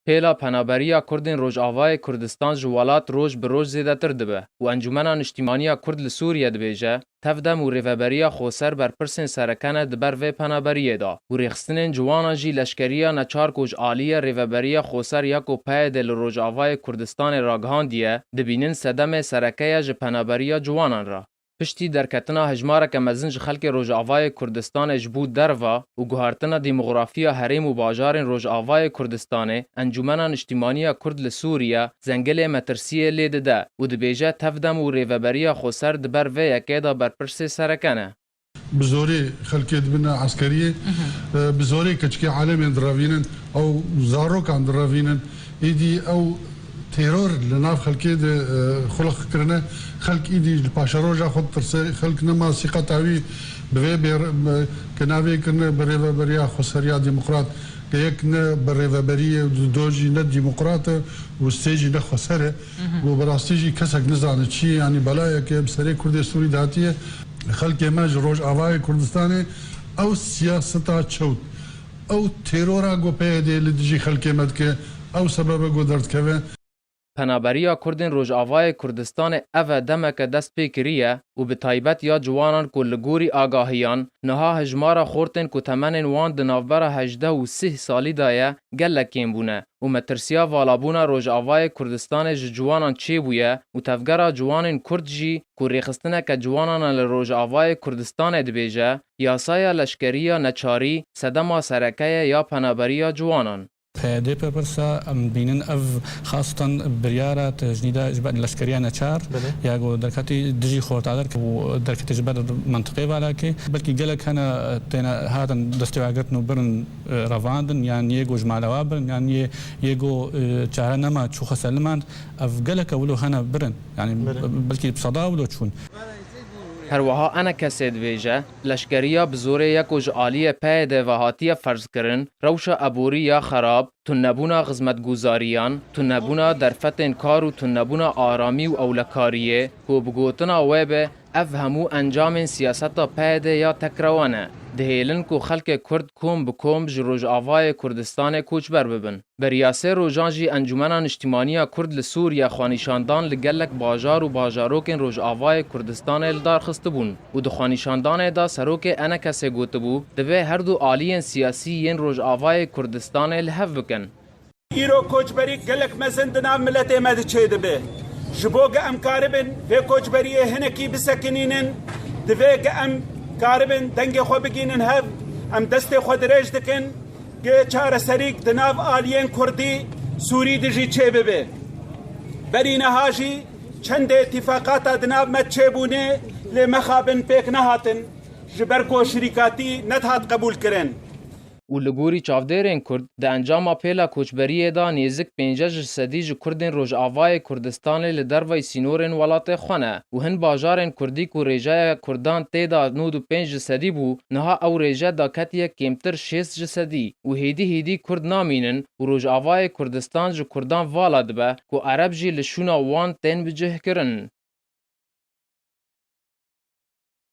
Pêla penaberiya Kurdên Rojavayê Kurdistan ji welat roj bi roj zêdetir dibe û Encûmena Niştîmaniya Kurd li Sûriye dibêje, tevdem û rêveberiya Xoser berpirsên sereke ne di ber vê penaberiyê de û rêxistinên ciwan a jî leşkeriya neçar ku ji aliyê rêveberiya Xoser ya ku PYD'ê li Rojavayê Kurdistanê ragihandiye, dibînin sedemê sereke ye ji penaberiya ciwanan re. piştî derketina hejmareke mezin ji xelkê Rojavayê Kurdistanê ji bo derva û guhertina demografiya herêm û bajarên Rojavayê Kurdistanê, Encûmena Niştîmaniya Kurd li Sûriye Zengilê metirsiyê lê dide û dibêje tevdem û rêveberiya xweser di ber vê yekê de berpirsê sereke ne. Bi zorê xelkê dibin eskeriyê, bi zorê keçikê alemên direvînin û zarokan direvînin, êdî ew Teror li nav xelkê de xulix kirine. Xelk îdî li paşeroja xwe ditirse. Xelk nema sîqeta wî bi vê bê ke navê kirine bi Rêveberiya Xweseriya Demokrat ke yek ne bi rêveberî ye û do jî ne demokrat e û sê jî ne xweser e û bi rastî jî kesek nizane çi ye yanî belayeke bi serê kurdê Sûrî de hatiye. Xelkê me ji Rojavayê Kurdistanê ew siyaseta çewt Ew têrora ku PYD'ê li dijî xelkê me dike, ew sebeb e ku derdkeve. Penaberiya Kurdên Rojavayê Kurdistanê eve demeke dest pê kiriye û bi taybet ya ciwanan ku li gorî agahiyan niha hejmara xortên ku temenên wan di navbera hejdeh û sih salî de ye gelek kêm bûne û metirsiya valabûna Rojavayê Kurdistanê ji ciwanan çêbûye û Tevgera Ciwanên Kurd jî ku rêxistineke ciwanan e li Rojavayê Kurdistanê dibêje, Yasaya leşkerî ya neçarî sedema sereke ye ya penaberî ya ciwanan. Dê bipirse em bînin ev xastan biryara tecnîda ji ber leşkeriya neçar ya ku derketî dijî xortader û derketî ji ber mintiqê Valakê belkî gelek hene têne hatin destêwagirtin û birin. Revandin yan yê ku ji mala we birin yan yê yê ku çare nema çû xwe ser limand ev geleke wilo hene birin yanî belkî bi seda wilo çûn. Herweha ene kesê dibêje, leşkeriya bi zorê ye ku ji aliyê peyê de ve hatiye ferzkirin, rewşa eborî ya xerab, tunnebûna xizmetguzariyan, tunnebûna derfetên kar û tunnebûna aramî û ewlekariyê ku bi gotina we be Ev hemû encamên siyaseta PYD ya tekrewa ne, dihêlin ku xelkê Kurd kom bi kom ji Rojavayê Kurdistanê koçber bibin. Beriya sê rojan jî Encûmena Niştîmaniya Kurd li Sûriye xwenîşandan li gelek bajar û bajarokên Rojavayê Kurdistanê lidar xistibûn û di xwenîşandanê de Serokê Enekesê gotibû, divê herdu aliyên siyasî yên Rojavayê Kurdistanê li hev bikin. Îro koçberî gelek mezin di nav miletê me de çêdibe. Ji bo ge em karibin vê koçberiyê hinekî bisekinînin, divê ge em karibin dengê xwe bigînin hev. Em destê xwe dirêj dikin ge çareserîk di nav aliyên kurdî, sûrî de jî çêbibe. Berî niha jî çendê tîfaqata di nav me de çêbûne lê mexabin pêk nehatin ji ber ku şirîkatî nedihat qebûlkirin. û li gorî çavdêrên Kurd di encama pêla koçberiyê de nêzik pênceh ji sedî ji Kurdên Rojavayê Kurdistanê li derveyî sînorên welatê xwe ne û hin bajarên Kurdî ku rêjeya Kurdan tê de nod û pênc ji sedî bû niha ew rêje daketiye kêmtir şêst ji sedî û hêdî hêdî Kurd namînin û Rojavayê Kurdistan ji Kurdan vala dibe ku Ereb jî li şûna wan tên bicihkirin.